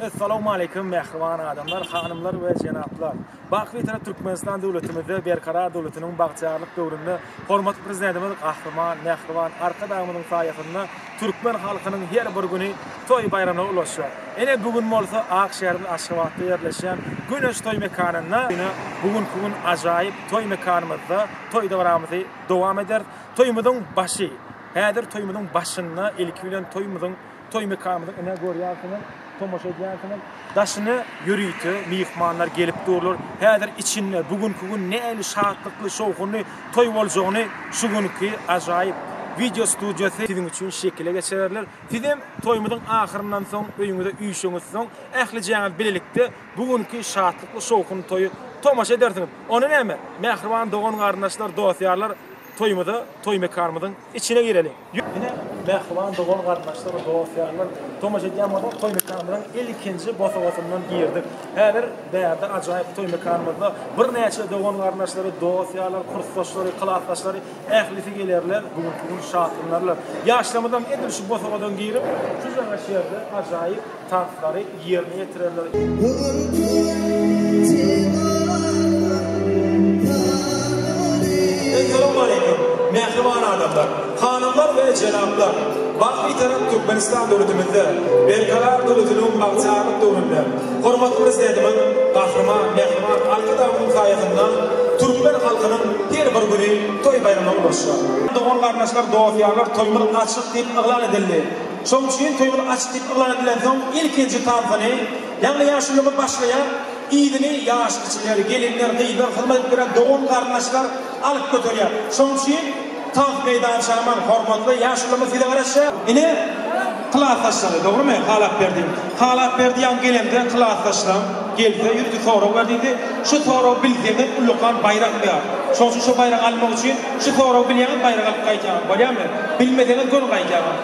Essalawmaleýkim mähriban adamlar, hanymlar we jenaplar! Baky bitewi Türkmenistan döwletimizde Berkarar döwletiniň bagtyýarlyk döwründe hormatly Prezidentimiz Gahryman mähriban Arkadagymyzyň saýasynda türkmen halkynyň her bir güni toý-baýramlara ulaşýar. Ine, bu gün bolsa ak şäherimiz Aşgabatda ýerleşýän Güneş toý mekanynda. Ine, bu günki gün ajaýyp toý mekanymyzda toý-dabramyzy dowam ederis. Toýumyzyň başy. Häzir toýumyzyň başynda ilki bilen toýumyzyň toý mekanymyzyň ine görýärsiňiz, tomaşa edýärsiňiz. Daşyna ýörite myhmanlar gelip durlar. Häzir içinde bu günki gün nähili şatlykly, şowhunly toý boljagyny şu günki ajaýyp wideo studiýasy siziň üçin şekile geçirerler. Siz hem toýumyzyň ahyryndan soň öýüňize üýşeňiz soň ählijäňiz bilelikde bu günki şatlykly, şowhunly toýy tomaşa edersiňiz. Onda näme? Mähriban dogan-garyndaşlar, dost-ýarlar, Toýumyza, toý mekanymyzyň içine gireliň. Ine, mähriban dogan-garyndaşlar, dost-ýarlar, tomaşa edýän bolsaňyz, toý mekanymyzyň ilkinji bosagasyndan girdik. Häzir bärde ajaýyp toý mekanymyzda birnäçe dogan-garyndaşlary, dost-ýarlary, kursdaşlary, klasdaşlary, ählisi gelerler, bu günki gün şatlanarlar. Ýaşlarymyzam edil şu bosagadan girip, şu jaňa şerde ajaýyp. Tanslary ýerine ýetirenler. Essalowmaleýkim, mähriban adamlar, hanymlar we jenaplar! Bagt Bitarap Türkmenistan döwletimizde Berkarar döwletiniň bagtyýarlyk döwründe hormatly Prezidentimiz Gahryman Mähriban Arkadagymyzyň saýasynda türkmen halkynyň her bir güni toý-baýrama ulaşýar. Dogan-garyndaşlar, dost-ýarlar, toýumyz açyk diýip yglan edildi. Şoň üçin toýuny aç diýip yglan edilensoň, ilkinji tansyny, ýagny ýaşululygy başlaýar, yzyny ýaş kiçiler, gelinler, gyzlar, hyzmat edip ýören dogan-garyndaşlar alyp göterýär. Şoň üçin tans meýdançaman, hormatly ýaşulymyz size garaşýar. Ine, klasdaşlary, dogrumy, Halapberdi? Halapberdi ýaňy gelende, klasdaşlaryň gelse, ýörite sorag ber diýdi. Şu soragy bilseňiz, ullakan baýrak ber. Şoň üçin şu baýragy almak üçin, şu soragy bilýäňiz, baýrak alyp gaýdýaňyz. Bolýamy? Bilmeseňiz, göni gaýdýaňyz.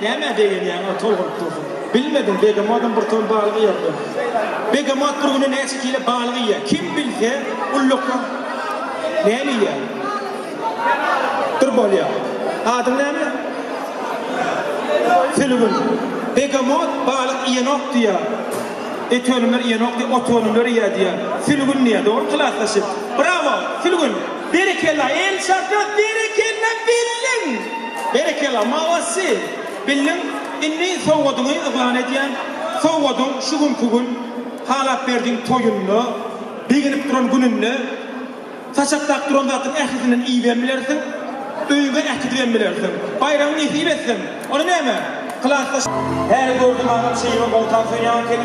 Nämä begenýäň, ol tol bolup dursun. Bilmedim, begemodam bir ton balyk iýerdi. Begemot bir günde näçe kile balyk iýýär? Kim bilse, ulluklar näme iýýär? Dyr bolýar. Adyň näme? Sülgün. Begemot balyk iýenok diýýär. Et önümleri iýenok diýýär, ot önümleri iýýär diýýär. Sülgün diýýär. Dogry klasdaşym? Brawo, Sülgün! Berekella Elçaka berekella bildiň. Berekella molossy bildiň indi sowgadyňy yglan edýän sowgadyň şu günki gün halap berdiň toýunda begenip duran gününde saçaklap duran zadyň ählisinden iýibem bilersiň öýüňe äkidibem bilersiň baýragyň nesip etsin ony näme klasdaş Häli gördüm agam şeýle goltan söýýanken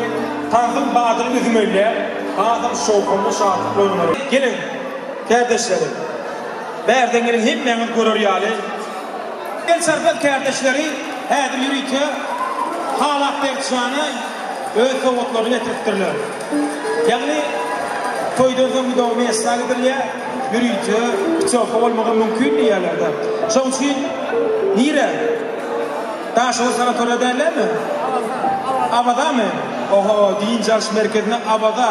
tansym badyny üzüm öýlär hasam şowhunly şatlykly öňe. Geliň. Kärdeşlerim, bärde meniň hemmäňiz görer ýaly, El Çarpan kärdeşleri häzir ýörite Halap Berkjana öz sowgatlaryny getiripdirler. Ýagny, toýdan soň Widowny Esra gidilýär, ýörite putyowka bolmagam mümkin diýýärler-de. Şonuň üçin nirä? Daşoguz sanatoriýa dällämi? Awazamy? Oho, dynç alyş merkezine Awaza.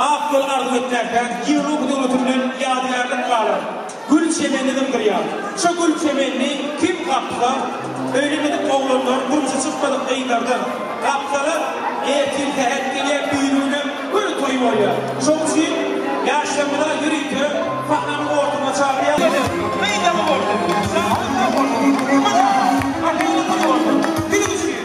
Ak ýol arzuw etmäkdäki Ýewropa döwleti bilen ýadygärlik galan gül çemenini dymdyrýar. Şo gül çemenini kim gapsa, öýlenmedik oglanlar, durmuşa çykmadyk gyzlardan gapsalar, ertir-säher gelýär düýrügine bir toý bolýar. Şoň üçin ýaşlarymyza ýörite sahnanyň ortasyna çagyrýarys. Gelin, gyz ýaly bolsun, şadyr-şowhunly, gümüş asyl, asyl-gül bolsun! Siziň üçin!